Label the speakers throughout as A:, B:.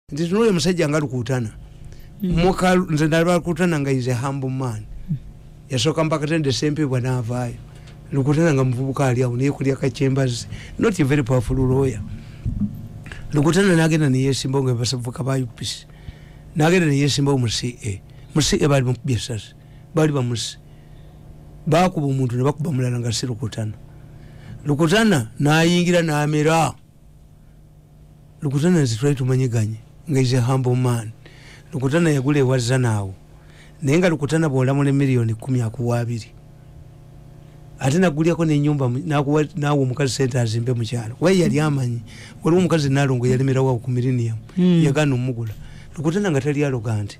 A: nti tunoyo musajja nga lukutana mm. muka nze nalaba lukutana nga is a humble man yasooka mpakatende sempebwa navaayo lukutana nga muvubuka ali awo naye kulya kakyembazi not a very powerful lawyer lukutana nagenda neyesimbawo nga basavuka ba upc nagenda neyesimbawo mu ca mu ca baali bamukubye esasi baali bamusi bakuba omuntu nebakuba mulala nga si lukutana lukutana nayingira namera lukutana nze twali tumanyiganye nga is a humble man lukutana yagula ewa zanaawo naye nga lukutana bwolamula emiliyoni kumi akuwa abiri ate nagulyako nenyumba nawa omukazi sente azimbe mukyalo waye yali amanyi waliwo omukazi nalongo yalimirawo ku milinium hmm. yagana omugula lukutana nga tali aloga nti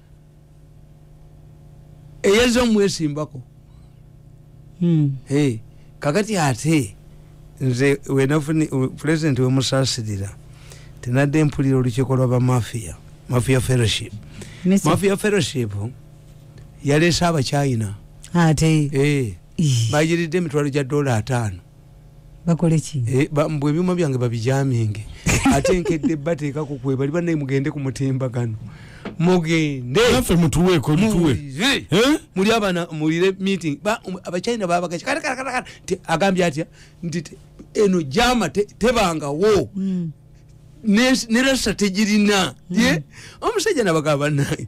A: eyeza omwesimbako hmm. kakati ate nze wenafuni pulezidenti wemusasirira tinadde mpulira olukiiko lwa bamafiya mafiya fellowship mafiya fellowship yaleese abachina ate eh. bayiridde emitwalo gya dola ataano bakoleki
B: eh, mbu ebyuma
A: byange babijaminge ate nkedde bateekako kwebali banaye mugende ku mutimbagano mugendefe mutuweko
C: mutuwe eh?
A: muli abana mulire meeting um, abachina babagaci karakarakara agambye atya nti eno jama tebangawo hmm. nera strategirina hmm. omusajja nabagaba banaye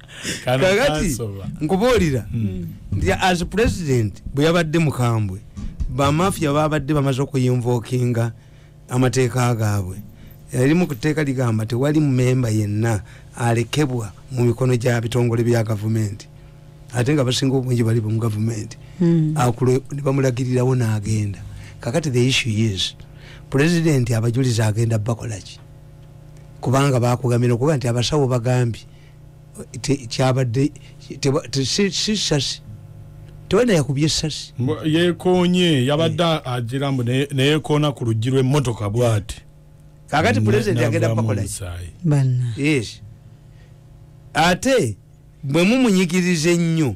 A: kakati nkubuulira hmm. nti as president bwe yabadde mukambwe bamafia babadde bamaze okuyinvokinga amateeka gaabwe erimu ku tteeka ligamba tewali mumemba yenna alekebwa mu mikono gya bitongole bya gavumenti ate nga basinga obungi bali mu gavumenti hmm. nebamulagirirawo n'agenda kakati the issue is president abajulizi agenda bakolaki kubanga bakugamira okuba nti abasawo bagambye kyabadde sisasi tewena yakubye esasi yekonye
C: yabadde eh. agira mbu neyekoona ku luggi lwemmotoka bwati kakati
A: pulezidenti agenda kubakolaki ate bwe mumunyigiriza ennyo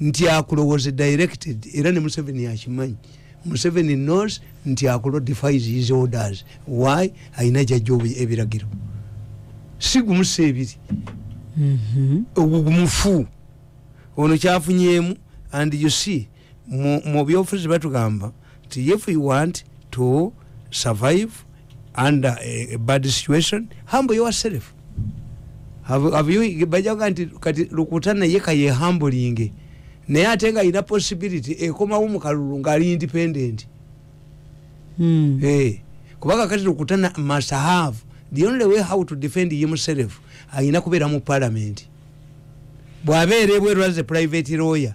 A: nti akulowoze directed era ne museveni yakimanyi museveni knows nti akulo defies his orders why alina jajja ebiragiro sigumusa ebiri mm-hmm. ogugumufu ono kyafunyemu and you see mu byobufuzi batugamba nti if you want to survive under a, a bad situation humble yourself bajaga nti kati lukuta naye kayehambulinge naye ate nga alina possibility ekomawo mukalulu ngaali independent hmm. eh, kubanga kati lukuta must have the only way how to defend himself alina kubeera mu parliament bwabeera ebweru as a private lawyer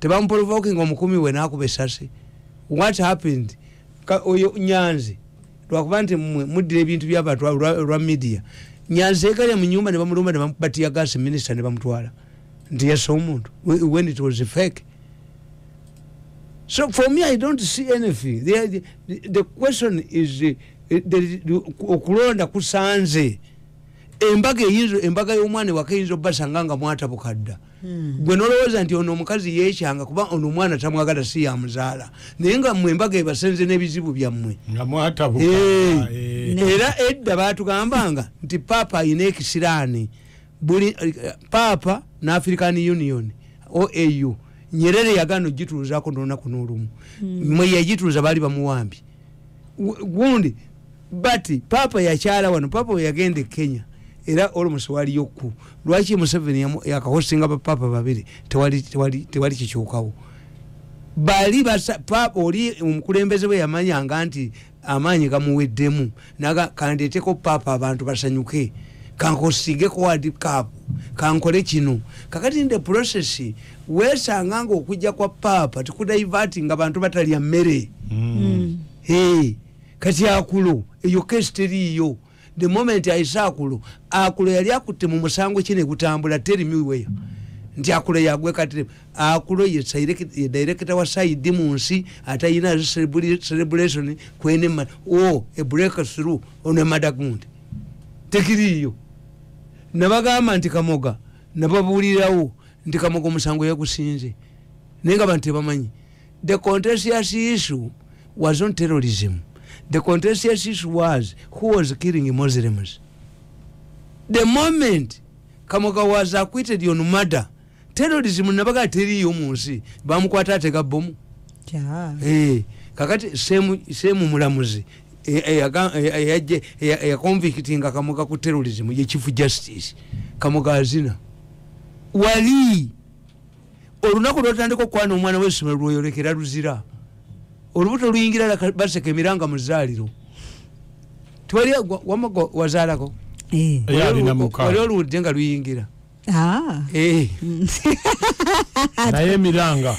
A: tebamuprovokinga omukumi we nakuba esasi what happened oyo nyanzi lwakuba nti mwe muddira ebintu byabantu lwa media nyanzi egalya mu nyumba nebamulumba nebamubatiya gasi minister nebamutwala nti yasa omuntu when it was fake so for me i don't see anything the, the, the question is uh, okulonda kusanze embaga eyinza embaga y'omwana ewaka eyinza obbasanga nga mwatabukadda Hmm. gwe nolowooza nti ono omukazi yekyanga kuba ono omwana tamwagala si yamuzaala naye nga mwe embaga ebasenze n'ebizibu byammwe eh. Eh. era edda batugambanga nti paapa ayina ekisiraani buli eh, paapa n'african union oau nyerere yagana ogituuzako nolunaku n'olumu hmm. mwe yagituuza baali bamuwambi gundi but papa yakyala wano papa weyagenda e kenya era almost waliyo ku lwaki museveni yakahosinga bapapa babiri tewali kikyukawo bali papa oli omukulembeze bwe yamanyanga nti amaanyi gamuweddemu naga kandeteko papa abantu basanyuke kankosigeko wadi kapu kankole kino kakati nde process wesanga nga okujja kwa papa tikudaivati nga bantu batalya mmere mm. mm. hey. kati akulo eyo kesi teriiyo the moment ayise akulo akulo yali akutte mu musango ki negutambula terimiweya nti akulo yagwekatire akulo ye directa wa saidi mu nsi atayina celebration kwenema o e break through on a madagund tekiriiyo nabagamba nti kamoga nababuulirawo nti kamoga omusango yagusinze naye nga bantu tebamanyi The contentious issue was not terrorism. The contentious issue was who was killing Muslims. The moment Kamoga was acquitted on murder, terrorism nabaga teri yo munsi bamukwata atega bomu. Yeah. Hey, eh, kakati same same mulamuzi eyajje eyakonvictinga kamoga ku terrorism ye chief justice kamoga azina wali olunaku lwotandika okukwana omwana wesomero lwoyolekera luzira olubuto luyingira baseka emiranga muzaaliro twali wamugo wazaalako eh. wali oluwudde nga luyingira ah. eh.
C: naye emiranga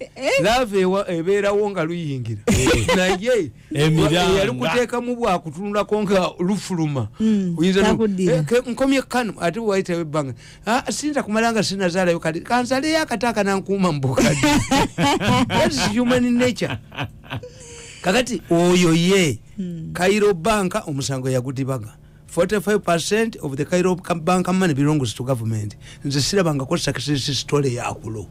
C: Eh?
A: laava ebeerawo nga luyingira eh. naye eyali kuteekamu bwakutunulako nga lufuluma hmm, eh, nkomye kanu ate waitawo ebbanga ah, sinza kumala nga sinazaalayo kati kanzaleyo akati akanankuuma mubukadi human nature kakati oyo ye hmm. kairo banka omusango yagudibaga 45 of the cairo bank money belongs to government nze sirabangako success story yakulo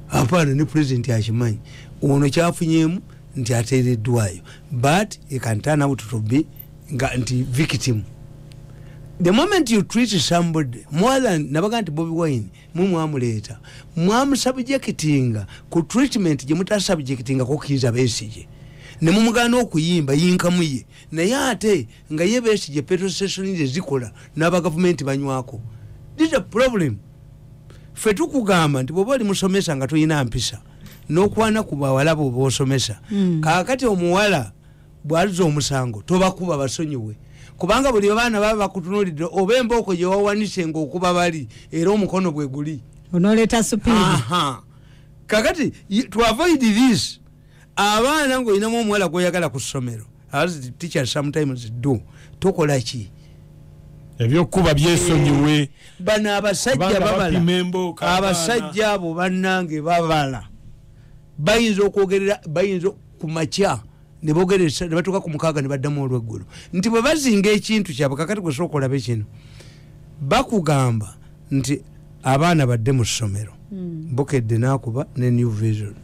A: apaana ne president akimanyi ono kyafunyemu nti ateereddwayo but e can turn out to be nga nti victim the moment you treat somebody more than nabaga nti bobi wine mwe mwamuleeta mwamusubjectinga ku treatment gye mutasubjectinga kokiiza besige ne mumugana okuyimba yinkamu ye naye ate nga ye besigye petrol station ze zikola n'aba gavumenti banywako this a problem ffe tukugamba nti bwoba oli musomesa nga tolina mpisa n'okwana ku bawala bwoba osomesa hmm. kaakati omuwala bwaliza omusango tobakuba basonyiwe kubanga buli abaana baba bakutunulidde oba embooko gye wawanise ngaokuba bali era omukono bwe guli onoleeta
B: supii
A: kakati twavoidi this abaana ngaolinamu omuwala gwoyagala ku ssomero as the teachers sometimes do tokola ki
C: ebyokuba byesonyiwe eh, bano
A: abasajja babala abasajja abo banange babala bayinza okwogerera bayinza kumakya nebogeresa nebatuuka ku mukaaga nebaddamu olweggulo nti bwe bazinga ekintu kyabwe kakati gwesobola okolaba ekino bakugamba nti abaana badde mu ssomero hmm. bukedde nakuba ne new vision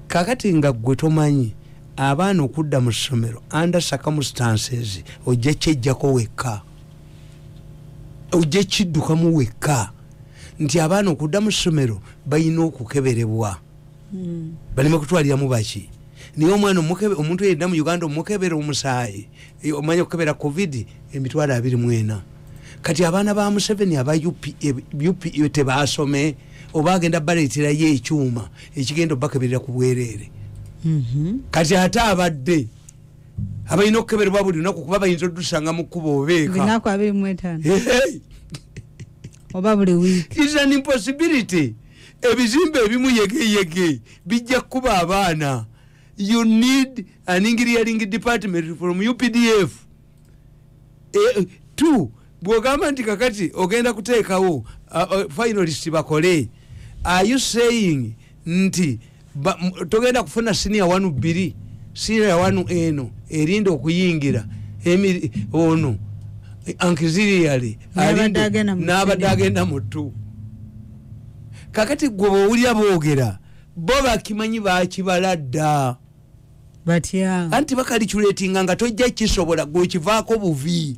A: kakati nga gwe tomanyi abaana okudda mu ssomero under circumstances ojja kyejjako wekka ojja kiddukamu wekka nti abaana okudda mu ssomero balina okukeberebwa hmm. baleme kutwaliramu baki naye omwana omuntu yedda mu uganda omukebera omusaayi eh, omanya okukebera covid emitwalo abiri mwena kati abaana ba museveni aba upa eh, eh, tebasome oba agenda baleeterayo ekyuma ekigenda obakeberera ku bwereere mhm. kati ate abadde abalina okukeberebwa buli lunaku kuba bayinza odusanga mu kkuba obeeka
B: oba buli week is an impossibility
A: ebizimbe ebimu yegeyege bijja kukuba abaana you need an engineering department from updf e, two bwogamba nti kakati ogenda kuteekawo uh, uh, finalist bakole are you saying nti togenda kufuna siniya wanu bbiri siniya wanu eno erinda okuyingira ono ankiziriyale n'abadde agenda mu ttu kakati gwe bwowulira boogera bo bakimanyi bakibala dda batya
B: anti bakaliculetinga
A: nga tojja kisobola gwekivaako buvi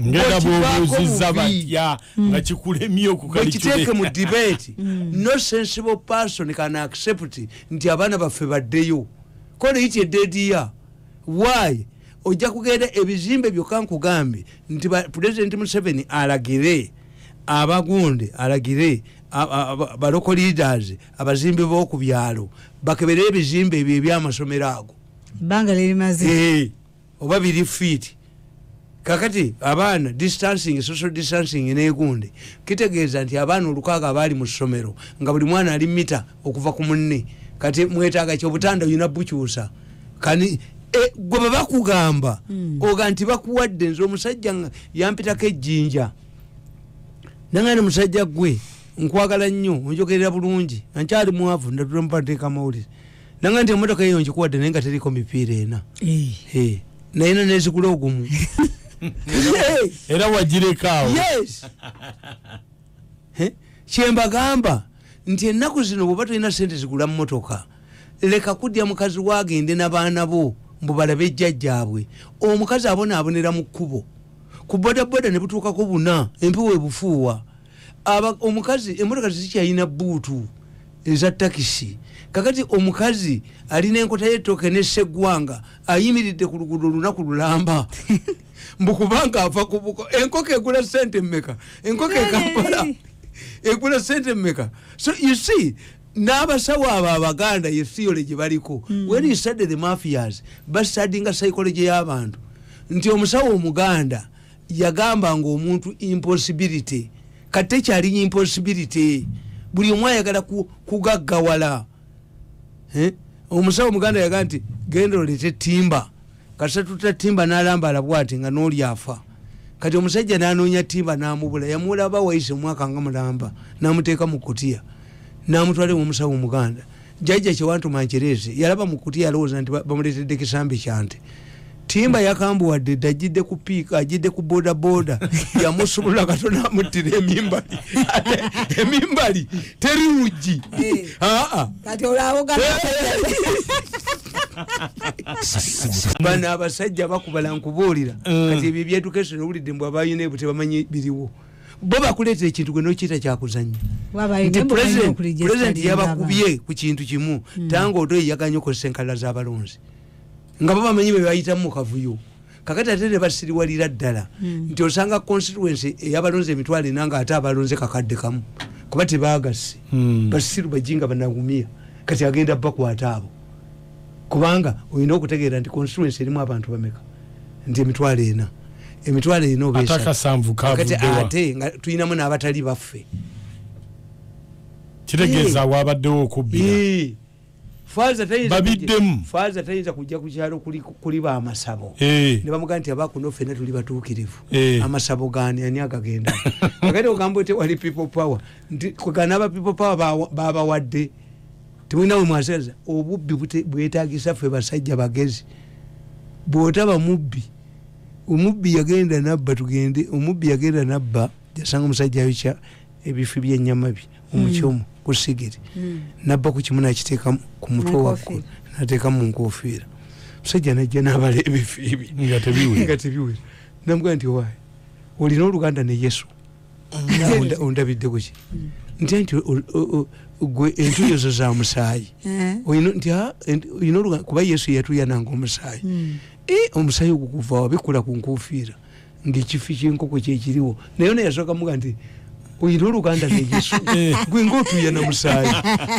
C: ngenda bwobuuziza batya hmm. nga kikulemye okukiteeke mu
A: debate hmm. no sensible person can accept nti abaana baffe baddeyo koleiti edediya why ojja kugenda ebizimbe byokka nkugambye nti pulezidenti museveni alagire abagunde alagire baloko leaders abazimbi boku byalo bakebere ebizimbe ebyo ebyamasomero ago banga lirimaze
B: eh, oba biri
A: fit kakati abaana distancing social distancing negunde kitegeeza nti abaana olukaaga abaali mu ssomero nga buli mwana ali mita okuva ku munne kati mwetaaga ki obutanda olina bukyusa kani e, gwe bwe bakugamba hmm. oga nti bakuwadde nze omusajja yampitako ejjinja nanga ni musajja gwe nkwagala nnyo onjogerera bulungi ankyali mwavu ndampateeka amawulire nanga nti emotoka eyo nkikuwadde naye nga teriko mipiira ena eh. Eh, naye na nezigula ogumu
C: era wagirekaawo
A: kyembagamba nti ennaku zino bwoba tolina sente zigula mmotoka leka kudya mukazi wo agende nabaana bo mbu balabe ejjajjaabwe omukazi abonaabonera mu kkubo ku bodaboda ne butuukako buna empewo ebufuuwa omukazi emotoka zizikyalina buutu eza takisi kakati omukazi alina enkota y'ettooke n'esseggwanga ayimiridde ku luguudo olunaku lulamba mbu kubanga ava kubuko enkoko egula sente mumeka enkoko ekampala egula sente mumeka so you see n'abasawo abo abaganda ye theory gye baliko mm. when you study the mafias bastadinga psychology y'abantu nti omusawo omuganda yagamba nga omuntu impossibility kati tekyali impossibility buli omu ayagala kugaggawala eh? omusawo omuganda yagamba nti genda olete timba kasa tuta timba nalambala bwati nga noli afa kati omusajja nanonya timba namubula yamulaba waise omwaka nga mulamba namuteeka mu kutiya namutwale mumusawo muganda jajja kyewantuma nkyereze yalaba mu kutiya alowooza nti bamuletedde kisambi kyante timba yakambuwadde dde ajidde ku piika ajidde ku bodaboda yamusumulula kato namuttira emimbali emimbali teri luggi eh. aa ah, ah.
B: kati olawogana
A: bano abasajja bakubala nkubuulira mm. kati ebyo ebyeducation owulidde mbu abalina ebyo tebamanyi biriwo bo bakuleetera ekintu gwe nokiyita kyakuzanya nti pulezidenti yabakubye ku kintu kimu mm. tanga odo eyaganya okozesa enkalala z'abalonzi nga bo bamanyi bebayitamu mu kavuyo kakati ate ne basiriwalira ddala hmm. nti osanga constituency eyabalonze emitwalo ena nga ate abalonze kakadde kamu kuba tebagasse hmm. basiru bajinga banagumia kati agenda bakwata abo kubanga olina okutegeera nti constituency erimu abantu bameka nti emitwalo ena emitwalo ena obakati ate nga tulinamu n'abatali baffe
C: kitegeeza eh. wabaddewo okubbira eh. babiddemu
A: faaza tayinza kujja ku kyalo kuli ba amasabo eh. ne bamugaa nti abakuno ffena tuli batuukirivu eh. amasabo gani ani agagenda agati ogamba ote wali people power nti kwegana aba people power babawadde temulina we mwasaza obubbi bwetagisa ffe basajja bagezi bwotaba mubbi omubbi yagenda nabba tugende omubbi yagenda nabba jasanga omusajja yokya ebifi byenyama bye omukyomu mm. ku sigiri mm. nabba ku kimu nakiteeka ku mutwe waggulu nateekamu mu nkofiira musajja najja nabala ebifiibi nga tebiwera namugaa nti owaayi olina oluganda ne yesu mm. ondabidde kuki nti nti gwe entuyo zo za musaayi eh. kuba yesu yatuyananga omusaayi eh, omusaayi ogukuvawa bikula ku nkofiira ngaekifi kyenkoko kyekiriwo naye ona yasooka muga nti oyina oluganda neyesu eh. gwe ngaotuya namusaayi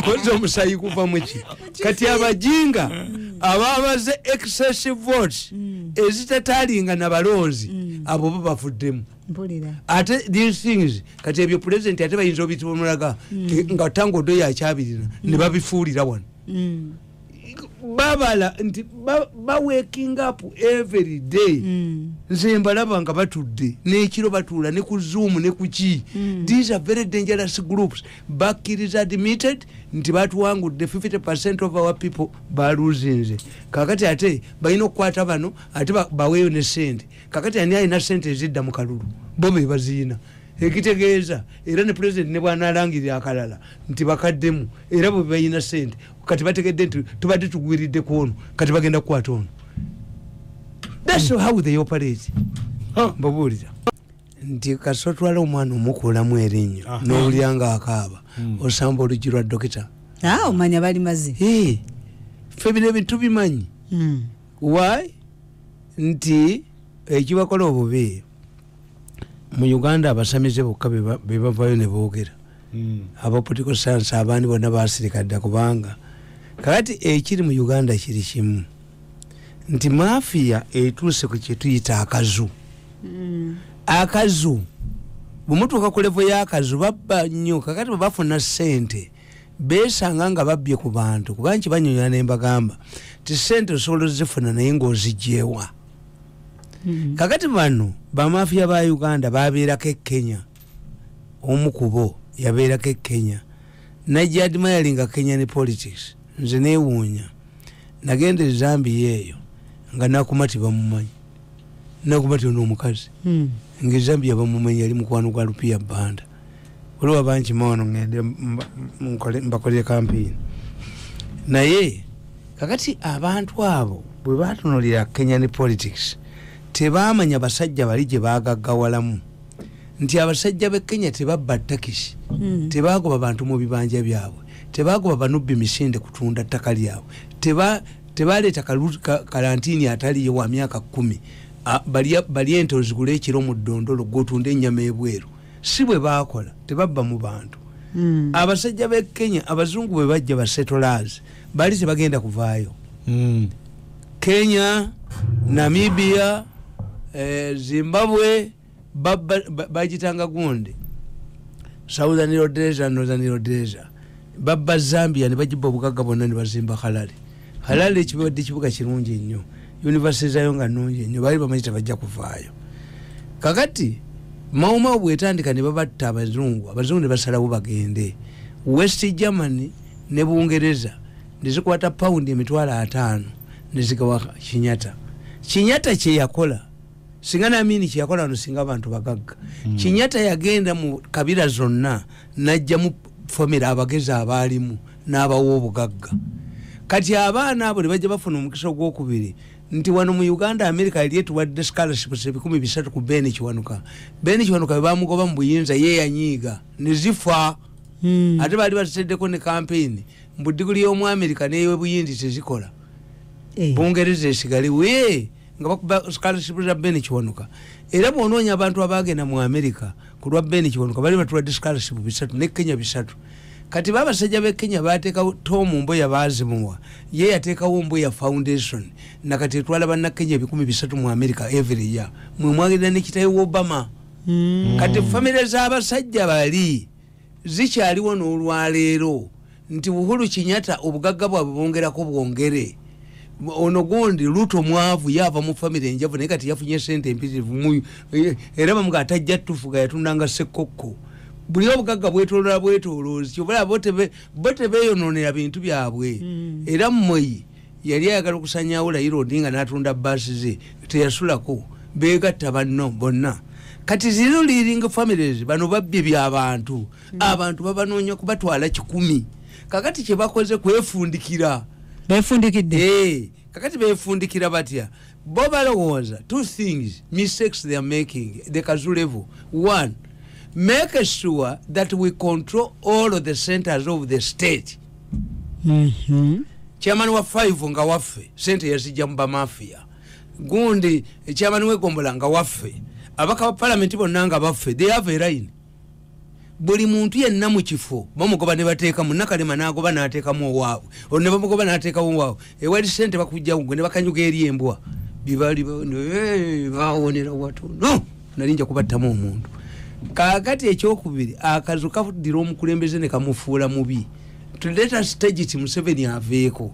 A: koza omusaayi guvamuki kati abajinga mm. ababaze excessive votes mm. ezitatalinga nabalonzi mm. abo bo bavuddemu ate these things kati ebyo president ate bayinza obitibamulaga nga tangodo yakyabirira nebabifuulira wano babala nti bawaking up every day mm. nze mbalaba nga batudde nekiro batuula ne ku zoom ne kuki mm. these are very dangerous groups bakkiriza admitted nti batuwangudde 50 percent of our people baluzinze kakati ate balina okukwata bano ate baweeyo ne sente kakati ani alina sente ezidda mu kalulu bo be baziyina ekitegeeza era ne pulezidenti ne bwanalangirira akalala nti bakaddemu era bwe balina sente kati bategedde nti tubadde tugwiridde ku ono kati bagenda kukwata ono that's how they operate mbabuuliza nti kasotwala omwana omukuulamu erinnyo n'owulira nga akaaba hmm. osamba oluggi lwa dokita ah, omanya bali
B: mazi fe bino
A: ebintu bimanyi hmm. why nti ekibakola obubi mu uganda abasamize bokka bebavayo nebogera hmm. aba political science abandi bonna basirika dda kubanga kakati ekiri mu uganda kiri kimu nti mafiya etuuse ku kyetuyita akazu hmm. akazu bwemutuuka ku levo y'akazu babba nnyo kakati bwe bafuna ssente besanga nga babbye ku bantu kuba nkibanyonya nembagamba ti ssente osobola ozifuna naye ngaozigyewa mm-hmm. kakati bano bamafiya ba uganda babeerako e kenya omu kubo yabeerako e kenya najja admiringa kenya ne politics nze newuunya nagenda ezambiya eyo nga nakuma tibamumanyi nakuma ti ono omukazi hmm. nga ezambiya bamumanyi yali mukwano gwa lupiya banda waliwo abangi maono ngende mbakolere kampiini naye kakati abantu abo bwe batunulira kenya ne politics tebamanya basajja bali gye bagagawalamu nti abasajja be kenya tebabba takisi hmm. tebagoba bantu mu bibanja byabwe tebagoba banubbi misinde kutunda ttaka lyabwe tebaleeta kalantini ataliyo wa myaka kumi bali ente ozigula ekiro mu ddondolo gwotunda ennyama ebweru si bwe baakola tebabba mu bantu mm. abasajja be kenya abazungu bwe bajja basetolazi bali tebagenda kuvaayo mm. kenya namibia eh, zimbabwe bagitanga gundi southern rhodesia northern rhodesia babba zambia ne bagibba obugagga bonna ne bazimba halali halali ekibadde kibuga kirungi ennyo univesity zayo nga nungi ennyo baali bamanyi tebajja kuvaayo kakati maumau bwetandika ne babatta abazungu abazungu ne basalawo bagende west germany ne bungereza nezikwata paundi emitwalo ataano nezigawa kinyata kinyata kyeyakola singa namini kyeyakola wano singa abantu bagagga mm. kinyata yagenda mu kabira zonna najjamu famire abagezi abaalimu n'abawa obugagga kati abaana abo nebajja bafuna omukisa ogwokubiri nti wano mu uganda america yali etuwadde scolarships ebikumi bisatu ku ben kiwanuka ben kiwanuka bebamugoba mu buyinza ye yanyiiga nezifa hmm. ate baali baziteddeko ne kampeyini mbu diguli y'omu america neyobuyindi tezikola eh. bungereza esigale wee nga bakuba scholarship za ben kiwanuka era bwonoonya abantu abaagenda mu america ku lwa ben kiwanuka bali batulwadde scholarship bisatu ne kenya bisatu kati babasajja be kenya bateekawo tom mbuya baazimuwa ye yateekawo mbuya foundation nakati etwala banna kenya ebikumi bisatu mu america every year mwe mwagenda nekitayo obama mm. kati famire z'abasajja bali zikyaliwo n'olwaleero nti buhulu kinyata obugagga bwabwe bongerako bwongere ono gundi luto mwavu yava mu famiry enjavu naye kati yafunye sente empitirivu muyo eh, era bamuga atajja tufuga yatundanga sekokko buli obugagga bwetolola bwetoloozi kyobalaba bo tebeyononera bintu byabwe hmm. era mweyi yali ayagala okusanyawo layira odinga natunda baasi ze teyasulako begatta banno bonna kati zero leading families bano babbye byabantu mm. abantu babanoonya kubatwala kikumi kakati kyebakoze kwefundikira befundikidde
B: eh, kakati
A: befundikira batya bo balowooza two things mistakes they are making the kazu level one make sure that we control all of the centers of the state mhm. chairman wa five nga waffe sente yazijja mu bamafia gundi eh, chairman wegombola nga waffe abaka ba palamenti bonna nga baffe they have a line buli muntu yenna mu kifo bamugoba ne bateekamu nakalema n'agoba n'ateekamu owaabwe olwo ne bamugoba n'ateekamu owaabwe ewali sente bakujjawo gwe ne bakanyuga eri embwa bibali bawonera watono nali nja kubattamu omuntu kakati ekyokubiri akazu kadira omukulembeze nekamufuula mubi tuleta stagit museveni aveeko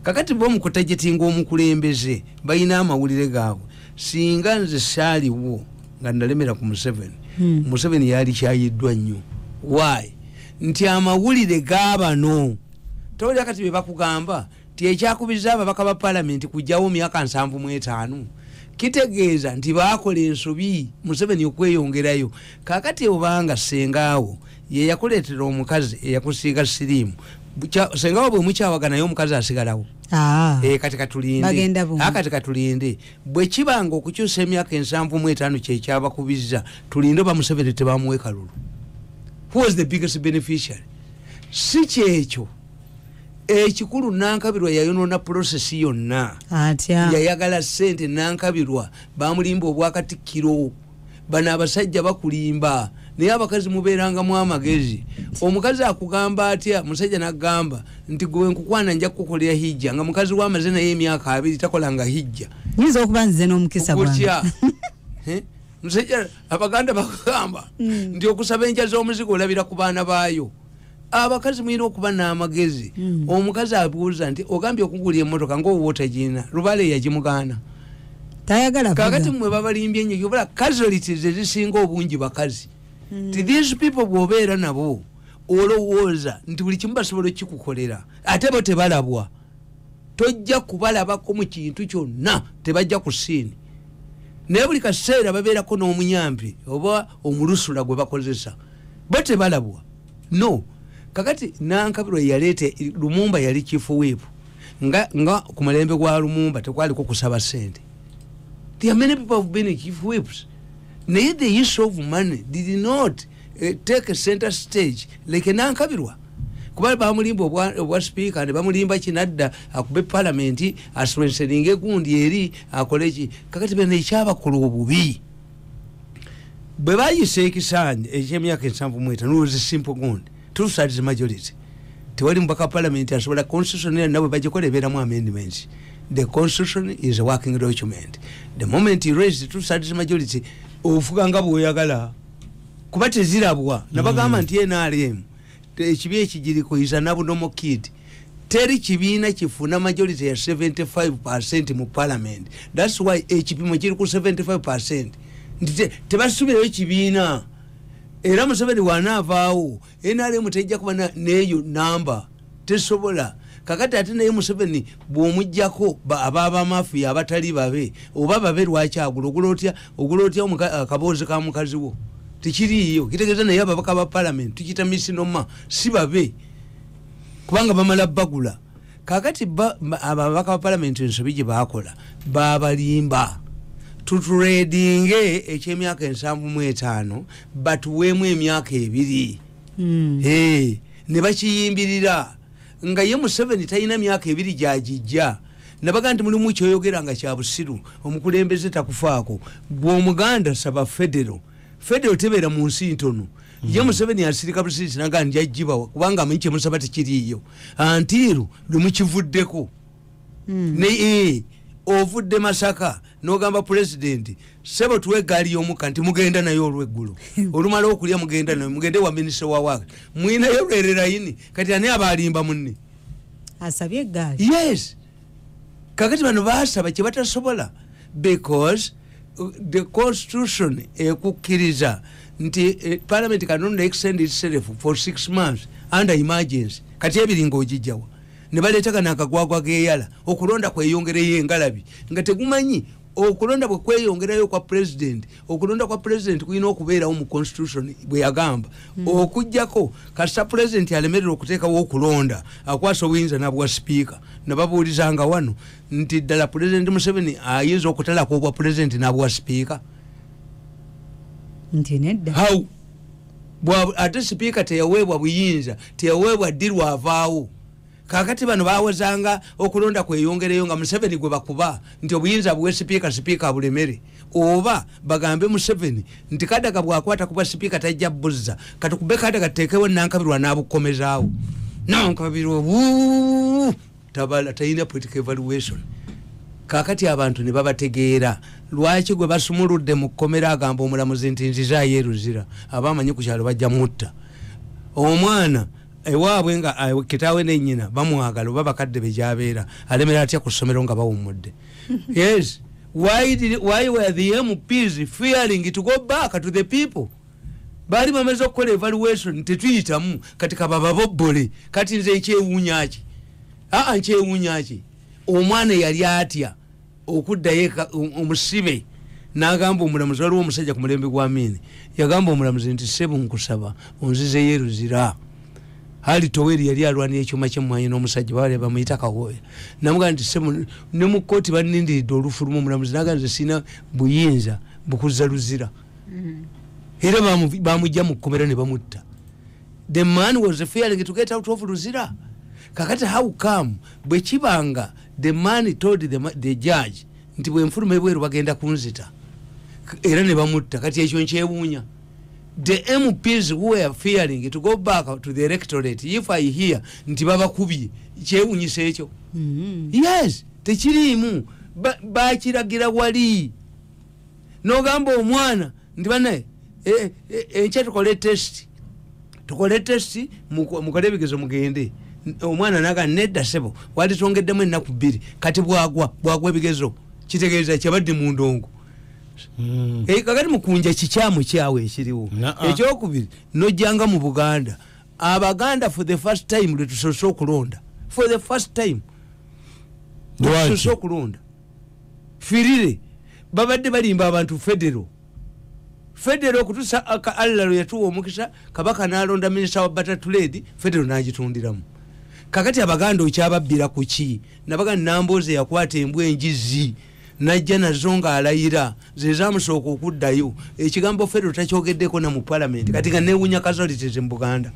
A: kakati bo mukutagitinga omukulembeze balina amawulire gaabwe singa nze saaliwo nga nalemera ku museveni hmm. museveni yalikyayiddwa nnyo y nti amawulire gabano tolya kati bebakugamba nti ekyakubizza ababaka ba palamenti kugyawo myaka nsanvu mu etaano kitegeeza nti baakola ensobi museveni okweyongerayo kakati obanga sengaawo yeyakuleetera omukazi eyakusiiga siriimu sengaawo bwe mukyawaganayo omukazi asigalawo ah. eh, kati katulindeakati ah, katulinde bwe kibanga okukyusa emyaka ensanvu mu etaano kyekyabakubizza tulinde oba museveni tebamuwekalulu who was the biggest beneficiary si kyekyo ekikulu nankabirwa yayonona prosesi yonna atya yayagala sente nankabirwa bamulimba obwakatikkiro bano abasajja bakulimba naye abakazi mubeerangamu amagezi omukazi akugamba atya musajja nagamba nti gwe nkukwana nja kukukolera hijja nga mukazi we amaze naye emyaka abiri takolanga hijja nyinza okuba nzize
B: n'omukisa gutya
A: musajja abaganda bakugamba hmm. nti okusaba enkya z'omuzigo olabira ku baana baayo abakazi mulina okuba n'amagezi hmm. omukazi abuuza nti ogambye okugula emotoka ngaowa otagirina lubale yagimugaana
B: kakati mwe
A: babalimbye nyo obala kazoliti zezisinga obungi bakazi hmm. ti these people bwobeera nabo olowooza nti buli kimu basobola okikukolera ate bo tebalabwa tojja kubalabako mu kintu kyonna tebajja ku siini naye buli kaseera babeerako n'omuyambi oba omulusula gwe bakozesa bo tebalabwa no kakati nankabirwa yaleeta lumumba yali chief whip nga, nga ku mulembe gwa lumumba tekwaliko kusaba sente there are many people have been chief whips naye the use of money did not uh, take a center stage like nankabirwa kuba bamulimba obwa speaker ne bamulimba kinadda akube palamenti aswenseninga egundi eri akoleki kakati bena ekyabakola obubi bwe bayisa ekisaanyi ekyemyaka ensanvu mweta nulwozi simple gond tusatis majority tewali mubaka parliament asobola constitution era nabwe bagikola ebeeramu amendments the constitution is a working document the moment you raise two thirds majority ofuga nga bwoyagala kuba tezirabwa nabagamba mm. nti nrm ekibi ekigiriko is an abnormal kid teri kibiina kifuna majority ya 75 percent mu parliament thats why ekipimo kiri ku 75 percent nti tebasubirayo kibiina era museveni wanaavaawo nrm tejja kuba neyo namba tesobola kakati ate naye museveni bwomujjako abaabamafuya abatali babe oba babe lwaki agula ogula otya ogula otya akaboozi ka mukazi wo tekiriiyo kitegeeza naye ababaka ba palamenti tukita misinoma si babe kubanga bamala bagula kakati ababaka ba palamenti ensobi gye bakola babalimba tuturedinge ekyemyaka ensanvu mu etaano batuweemu emyaka ebiri hmm. ne bakiyimbirira nga ye museveni talina myaka ebiri gyagijja nabaga nti mulimu kyoyogera nga kyabusiru omukulembeze takufaako gwe omuganda saba federo federo tebeera mu nsi ntono hmm. ye museveni asirika busirisi naga nti ajjibawa kubanga amanyi kyemusaba tekiriiyo antiiru lwemukivuddeko hmm. naye eh, ovudde masaka nogamba pulezidenti sebo tuwe egaali y'omukka nti mugenda naye olweggulo olumala okulya mugenda naye mugende wa minisita wa waaka mwinayo lwererayini kati ani aba alimba munne asabye
B: egaali yes
A: kakati bano basaba kye batasobola because uh, the constitution ekukkiriza nti eh, parliament cannot extend itself for six months under emergency kati ebiringa ogijjawa ne baleetagana akagwagwa g'eyala okulonda kweyongereyo engalabi nga tegumanyi okulonda bwe kweyongerayo okwa president okulonda kwa president kulina okubeerawo mu constitution bwe yagamba mm. okujjako kasita president alemerera okuteekawo okulonda akwasa obuyinza nabwa sipiika nababuulizanga wano nti ddala president museveni ayinza okutalako obwa president nabwa sipiika
B: nti nedda how
A: ate sipiika teyaweebwa buyinza teyaweebwa ddirwa avaawo kakati bano bawezanga okulonda kweyongereyo nga museveni gwe bakuba nti obuyinza buwe sipiika sipiika abulemere oba bagambe museveni nti kadaga bwakwata kuba sipiika tajja buzza katukube kadaga tutekewo nankabirwa nabukomezaawo nankabirwa bu tabala talina political evaluation kakati abantu ne babategeera lwaki gwe basumuludde mu kkomera agamba omulamuzi nti nzizaayo eruzira aba amanyi ku kyalo bajja mutta omwana ewaabwe nga eh, kitaawe nenyina bamwagala oba bakadde be gyabeera alemera atya ku ssomero nga bawummudde yes why, did, why were the mps fearing to go back to the people baali bamaze okukola evaluation tetuyitamu kati kabababobbole kati nze ekyewuunyaki aa nkyewuunyaki omwana yali atya okuddayo eka um, omusibe um, nagamba omulamuzi waliwo omusajja ku mulembe gwa miini yagamba omulamuzi nti sebu nkusaba onzizeyo eruzira ali toweri yali alwanira ekyuma kyemwanyi n'omusajja bawali bamuyita kawooya namugamba nti sebu ne mu kkooti banindiridde olufulumu omulamuzi naga nze sirina buyinza bukuzza luzira mm. era bamujja mu kkomera ne bamutta the man was fearing to get out of luzira kakati how come bwe kibanga the man told the, the judge nti bwenfuluma ebweru bagenda kunzita era ne bamutta kati ekyo nkyewuunya the mps who were fearing to go back to the electorate if i hear nti babakubye kyewunyisa ekyo mm -hmm. yes tekiriimu bakiragira ba wali nogamba omwana nti banaye eh, eh, enkya tukole test tukole test mukole ebigezo mugende omwana naga nedda sebo walitongeddemu ennaku bbiri kati bwagwa bwagwa ebigezo kitegeeza kyabadde mu ndongo hmm. eh, kakati mukunja kikyamu kyawo ekiriwo ekyokubiri nojjanga mu buganda abaganda for the first time lwetusose okulonda for the first time lwetusose okulonda firire babadde balimba abantu federo federo okutusa ka allah lwe yatuwa omukisa kabaka nalonda minisita wa bata tuledi federo nagitundiramu kakati abaganda okyababbira ku ki nabaga namboozi eyakwata embwa enjizi najja nazo ngaalayira zezamusooka okuddayo ekigambo federo takyogeddeko na mu palamenti kati nga newunya kazaliteze mu buganda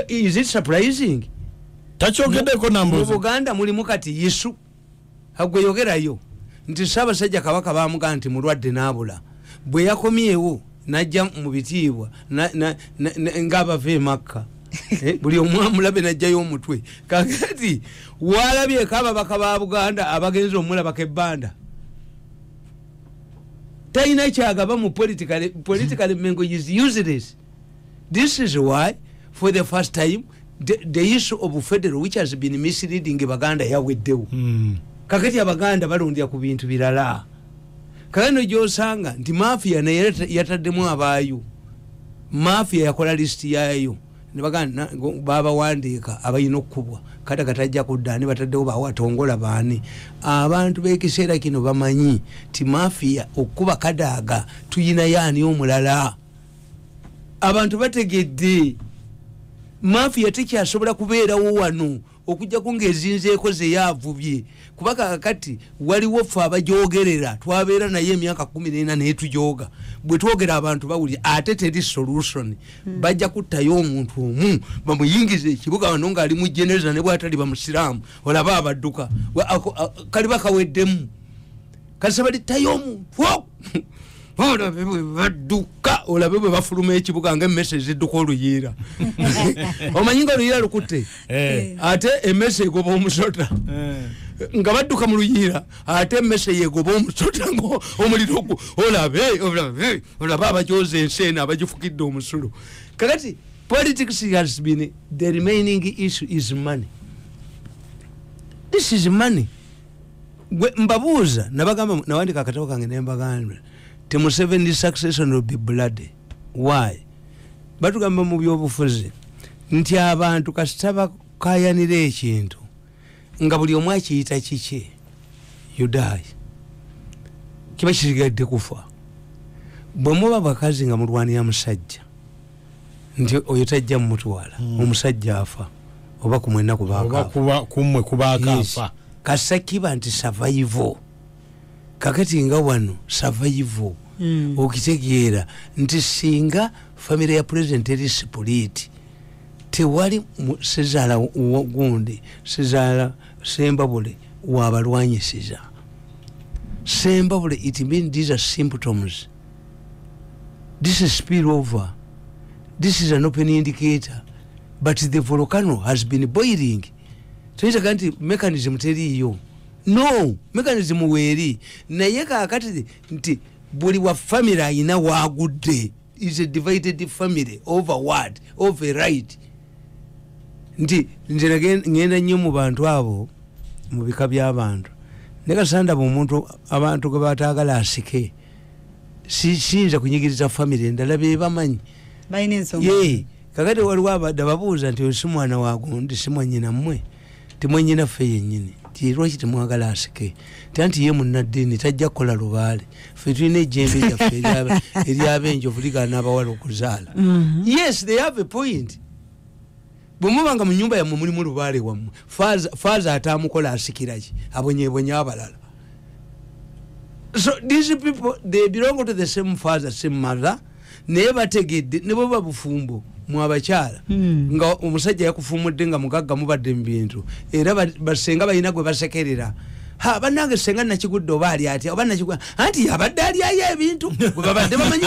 A: is it surprising takyogeddeko
C: nambuzi mu buganda mulimu kati
A: yesu agwe yogerayo nti ssaabasajja kabaka bamugaa nti mulwadde n'abula bwe yakomyewo najja mu bitiibwa ng'abava emakka eh, buli omwamulabe najjayo omutwe kakati walabyeko ababaka ba buganda abagenzi omulabako ebbanda talina kyagaba mu political political mengo is useless this is why for the first time the, the issue of federal which has been misleading baganda yaweddewo mm. kakati abaganda balondera ku bintu birala kale no gyosanga nti mafia naye yataddemu abaayo mafia yakola lisiti yaayo nebaganda babawandiika abalina okukubwa kata katajja kudda ani bataddewo bawatongola baani abantu b'ekiseera kino bamanyi ti mafia okukuba kadaaga tuyinayo ani omulala abantu bategedde mafiya tekyasobola kubeerawo wano okujjako ngaezinzeeko zeyavubye kuba kakati waliwo ffe abajogerera twabeera naye emyaka kumi nena naye tujoga bwe twogera abantu bawulira ate teri solution hmm. bajja kuttayo omuntu omu bamuyingiza ekibuga wano ngaali mu genereza ne bwatali bamusiraamu olaba abadduka kaliba kaweddemu kasa baletayo omuntu olabe bwe badduka olabe bwe bafuluma ekibuga nga emmese ezidduka oluyiira omanyi nga oluyiira lukutte eh. ate emmese egoba omusota eh. nga badduka mu luyiira ate emmese yegoba omusota ngaomuliro gwo olabe olabe olabe abajoza ensi eno abagifukidde omusulo kakati politics has been the remaining issue is money this is money gwe mbabuuza nabagamba nawandika akatabo kange nembagamba ti museveni succession will be bloody why batugamba mu byobufuzi nti abantu kasita bakayanira ekintu nga buli omu akiyita kiki yudayi kiba kisigadde kufa bwe muba bakazi nga mulwanira musajja nti oyo tajja mumutwala hmm. omusajja afa oba kumwe enaku bakakumwe
C: kubakafa kasa kiba
A: nti survival kakati nga wano survival hmm. okitegeera nti singa famire ya president eri sipuliti tewali sezaala gundi sezaala sembabule wabalwanyisiza sembabule it mean these are symptoms this is spill over this is an open indicator but the volcano has been boiling toyitaga nti mechanism teriiyo no mechanism weeri naye kakati nti buli wa family ayina wagudde is a divided family over word of a right nti nze ngenda nnyo mu bantu abo mu bika by'abantu naye kasandaba omuntu abantu gwe bataagala asike siyinza kunyigiriza famiry endala bebamanyi
B: kakati waliwo
A: abadde ababuuza nti oyo si mwana wagundi si mwanyina mmwe timwanyina ffe yennyini ti lwaki temwagala asike ta nti ye munnaddiini tajja kukola lubaale ffe tulina ejjembe lyaffe eryabenjovu ligaana abawala okuzaala mhm. yes they have a point bwemuba nga munyumba yamwe mulimu lubaale wamwe faaza atamukola asikiraki abonyebonye abalala so these people they belong to the same father same mother naye bategedde nebweba bufumbo mwabakyala hmm. nga omusajja yakufumudde nga mugagga mubadde mubintu era basenga balina gwe basekerera ha banange senga nakigudde oba ali atya oba nakigwa anti yabadde alyayo ebintu gwe babadde bamanyi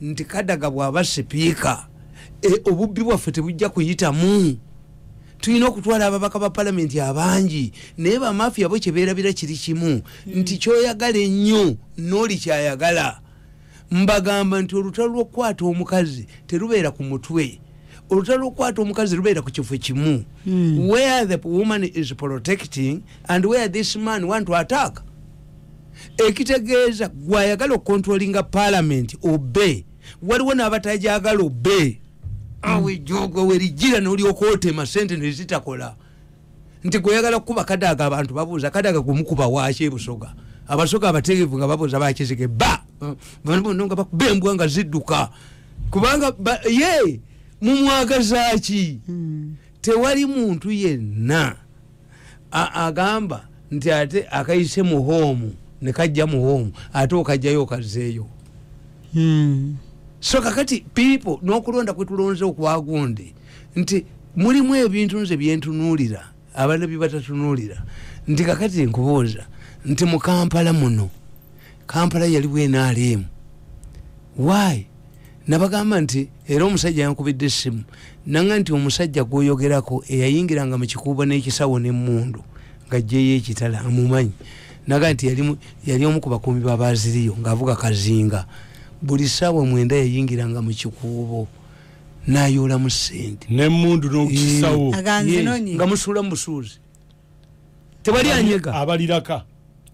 A: nti kadaga bwaba sipiika e, obubbi bwaffe tebujja kuyitamu tulina okutwala ababaka ba palamenti abangi naye bamafiya bo kyeberabira kiri kimu nti kyoyagala ennyo nooli kyayagala mbagamba nti olutalo lwokukwata omukazi terubeera ku mutwe olutalo lwokukwata omukazi lubeera ku kifo kimu hmm. where the woman is protecting and where this man want to attack ekitegeeza gwayagala okukontrolinga palamenti obe waliwo n'abatajagala obe awo ejogwe werijira nolyoka otema sente nezitakola nti gweyagala kukuba kadaga abantu babuuza kadaga gwemukuba waki ebusoga abasoga abategevu nga babuuza bakizige ba banobono nga bakuba embwa nga zidduka kubanga ye mumwagazaki hmm. tewali muntu yenna agamba nti ate akayise mu hoomu ne kajja mu hoomu ate okajjayo okazzeeyo hmm. so kakati pipo n'okulonda kwe tulonze okwagundi nti mulimu ebintu nze byentunuulira abaana bye batatunuulira nti kakati nkubuuza nti mu kampala muno kampala yaliwo enaaliemu why nabagamba nti era omusajja yankubidde essimu nanga nti omusajja gwoyogerako eyayingiranga mu kikuubo n'ekisawo n'emmundu nga jjeyo ekitala amumanyi naga nti yali omu ku bakuumi babaziriyo ng'avuga kazinga buli ssaawa mwenda yayingiranga mu kikuubo nayoolamu ssente n'emmundu n'okukisawo
C: nga
A: musuula mu busuuzi tewali anyega abaliraka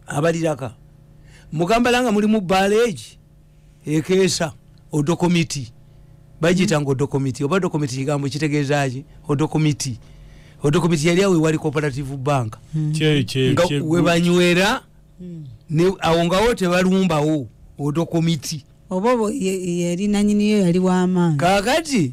A: abaliraka mugambala nga mulimu baleegi ekeesa odokomiti bagiyita nga odokomiti oba dokomiti kigambo kitegeezaki odokomiti odokomiti yali awo ewali cooperative bank hmm. nga webanywera hmm. awo ngawo tebalumbawo odokomiti oba
B: yali nanyiniyo yali wamaanyi kakati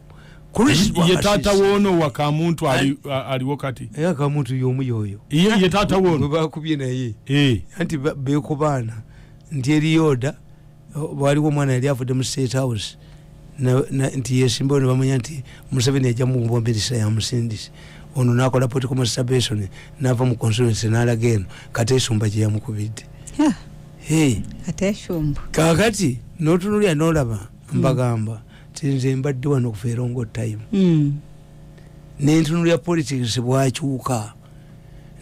C: ye taata woono wakamuntu aliwo kati era eh, kamuntu yomu yoyo
A: ye taata woono
C: bakubye naye
A: eh. anti bekubaana nti eriyoda waliwo omwana yali avudde mu state house nti yesimbawo nebamanya nti museveni ajja mukubwa minisita yamusindisi ono nakola political masturbation nava mu constituency nalaga eno kati esumba gyeyamukubidde kakati notunulya nolaba mbagamba hmm. tinze mbadde wano okuva erongo time mm. nentunulira politics bwakyuka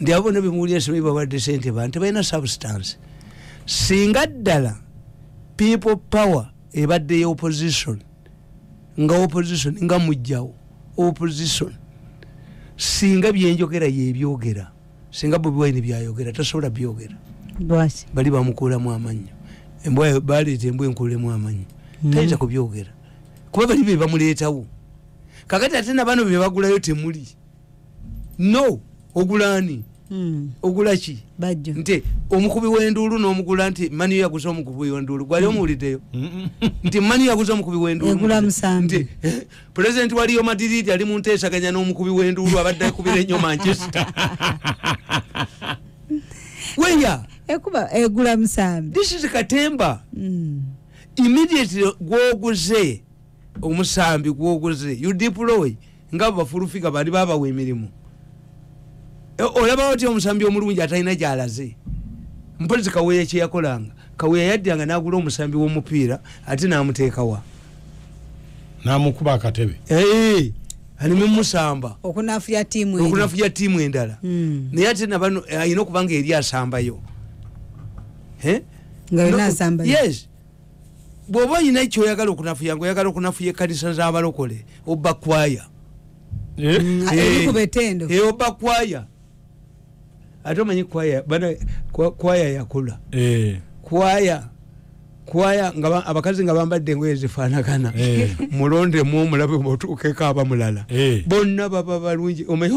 A: ndi abona bemuwulira simanyi babadde sente bantu tebalina substance singa ddala people power ebadde ya opposition nga opposition nga mujjawo opposition singa byenjogera yebyogera singa bobi wine byayogera tasobola byogera bali bamukuulamu amannyo embwa baleeta embwa enkuulemu amannyo hmm. tayinza kubyogera kuba bali be bamuleetawo kakati ate nabaana be bagulayo temuli no ogulaani hmm. ogulaki nti omukubi wenduulu nomugula nti mani yaguza omukubi wenduulu gwali hmm. omuwuliddeyo nti mani yaguza omukubi wenduulu pulezidenti wa riyo madiridi ali mu nteesaganya n'omukubi w'enduulu abadde akubira ennyo manchester weya ekuba egula
B: musambi this is katemba
A: mm. immediately gwoguze omusambi gwoguze you deploy nga bafulufiga bali babawa emirimu eh, olaba otya omusambi omulungi atalina gyalaze mpozi kaweya kyeyakolanga kaweya yaddanga nagula omusambi womupiira ate namuteekawa
C: namukuba akatebe eh,
A: alimumusamba
B: okunafuya tiimu
A: endala hmm. naye ate nabano eh, alina okubanga eri asambayo yes bwoba olina ekyoyagala okunafuya nga oyagala okunafuya ekanisa zabalokole oba kwaya Eh? Mm, eh, eri ku betendo eh, oba kwaya ate omanyi kwaya bana kwaya yakula kwaya kwaya nga abakazi nga bambadde engoye zifaanagana mulondemu omulabe mutuukeko aba mulala bonna baba balungi omanyi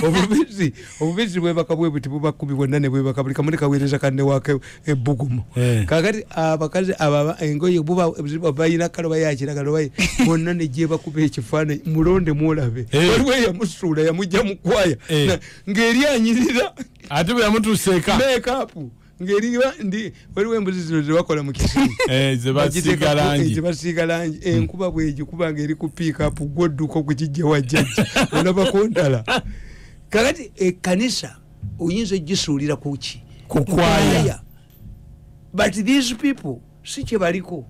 A: obubizzi obubizzi bwebaka bwebuti bubakumi bwonna nebwebaka buli kamuli kaweereza kanne wake ebbugumu eh. kakati abakazi ababa engoye buba balina kale bayakiragala baye bonna negyebakuba ekifaananyi mulonde mwolabe eh. waliwo eyamusuula yamujja mukwaya eh. ng'eri anyirira ate bwe
C: yamutuuseeka mekapu
A: ngeri ndi waliwo embuzi zino zebakola mu kisiibasiiga eh, langi eh, enkuba bwegikuba ngaeri ku piikapu gwodduka okukijja wajjajja olabako ndala kakati ekanisa eh, oyinza ojisuulira kuki kukwaya but these people
C: si
A: kyebaliko